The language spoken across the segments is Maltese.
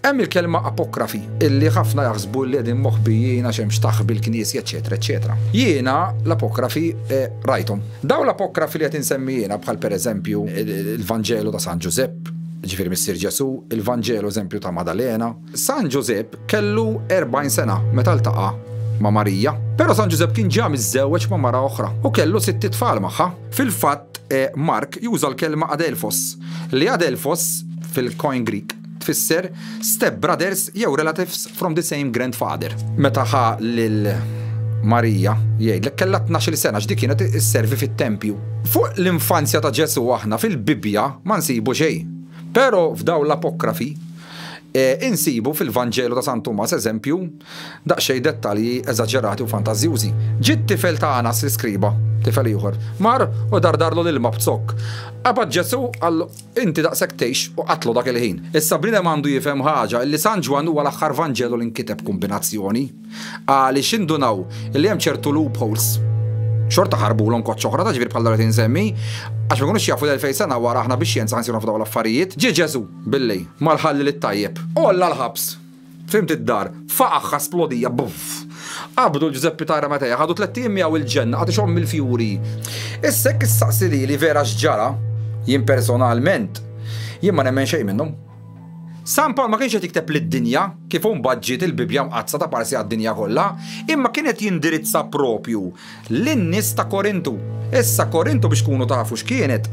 Hemm il-kelma apokrafi, illi ħafna jaħsbu li qegħdin moħbijin għax hemm xtaħħ bil-knisja, eċċetera, eċċetera. Jiena l-apokrafi eh, rajthom. Dawn l-apokrafi li qed insemmi jiena bħal pereżempju il-Vanġelu ta' San Ġużepp, ġifieri Missier Ġesù, il-Vanġelu eżempju ta' Madalena. San Ġużepp kellu 40 sena meta ltaqa' ma' Marija. Però San Ġużepp kien ġa miżżewweġ ma' mara oħra u kellu sitt itfal magħha. Fil-fatt, Mark juża l-kelma adelphos, li adelphos, fil-Koine Grieg, tfisser stepbrothers jew relatives from the same grandfather. Meta ħa lil Marija, jgħidlek kellha tnax-il sena għax di kienet isservi fit-tempju. Fuq l-infanzja ta' Ġesù aħna fil-Bibbja ma nsibu xejn. Però f'dawn l-apokrifi, insibu fil-Vanġelu ta' San Tumas eżempju, Daqsxejn dettalji eżaġerati u fantażjużi. Ġie t-tifel ta' Anas l-iskriba, tifel ieħor, mar u dardarlu l-ilma b'zokk. Qabad Ġesù, qallu, Inti daqshekk tgħix u qatlu dak il-ħin. Issa bniedem għandu jifhem ħaġa, illi San Ġwann huwa l-aħħar Vanġelu li nkiteb b'kumbinazzjoni. Għaliex indunaw illi hemm ċertu loopholes. Xorta ħarbulhom koċċ oħra, ta' ġbir bħal dawk li qed insemmi, għax ma jkunux jafu li elfejn sena wara aħna bix-xjenza ħa nsiru nafu dawn l-affarijiet. Ġie Ġesù, billi, mar ħalli lit-tajjeb. Għolla l-ħabs. Fhimt id-dar, f'aqagħha splodija, buff! Qabdu Ġużeppi Tajra Matea, ħadu tlett ijiem miegħu il-ġenna, qagħad ixomm il-fjuri. Issa jekk issaqsi lili vera x'ġara, jien personalment, jien ma nemmen xejn minnhom. San Pawl ma kienx qed jikteb lid-dinja, kif imbagħad ġiet il-Bibbja Mqaddsa ta' parsi għad-dinja kollha, imma kien qed jindirizza proprju lin-nies ta' Korintu. Issa Korintu biex tkunu tafu x'kienet.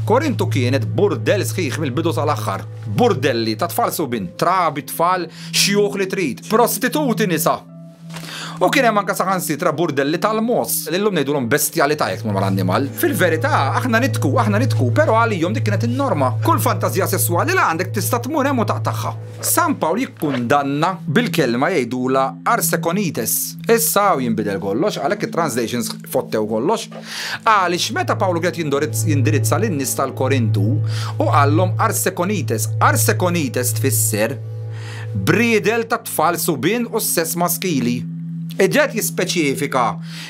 Korintu kienet burdell sħiħ mill-bidu tal-aħħar. Burdelli ta' tfal subin, trabi, tfal, xjuħ li trid, prostituti nisa. U kien hemm anke saħansitra burdelli tal-moss, li llum ngħidulhom bestjalità jekk tmur mal-annimal. Fil-verità, aħna nidhku, aħna nidhku, però għalihom dik kienet in-norma. Kull fantażija sesswali li għandek tista' tmur hemm u taqtagħha. San Pawl jikkundanna bil-kelma jgħidulha arsekonites. Issa hawn jinbidel kollox, għalhekk it-translations fottew kollox. Għaliex meta Pawlu kien qed jindirizza lin-nies tal-Korintu u qallhom arsekonites. Arsekonites tfisser briedel tat-tfal subien u s-sess maskili. Qiegħed jispeċifika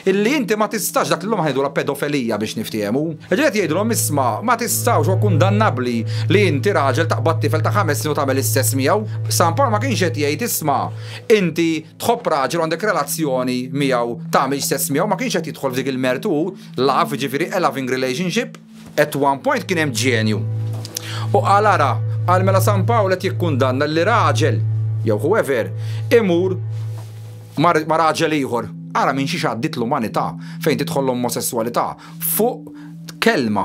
Illi inti ma tistax, dak l-lum ħajdula pedofelija biex niftiehmu. Ġiet qed jgħidilhom isma' ma tistgħux huwa kundannabbli li inti raġel taqbad tifel ta' ħames snin u tagħmel l-istess miegħu. San Pawl ma kienx qed jgħid isma' inti tħobb raġel u għandek relazzjoni miegħu tagħmilx sess miegħu, ma kienx qed jidħol f'dik il-mertu hu, love, jiġifieri a loving relationship. At one point kien hemm ġenju. U qal ara, qal mela San Pawl qed jikkundanna li raġel, jew whoever, imur ma' raġel ieħor. Ara minn xiex għaddiet l-umanità fejn tidħol l-omosesswalità fuq kelma.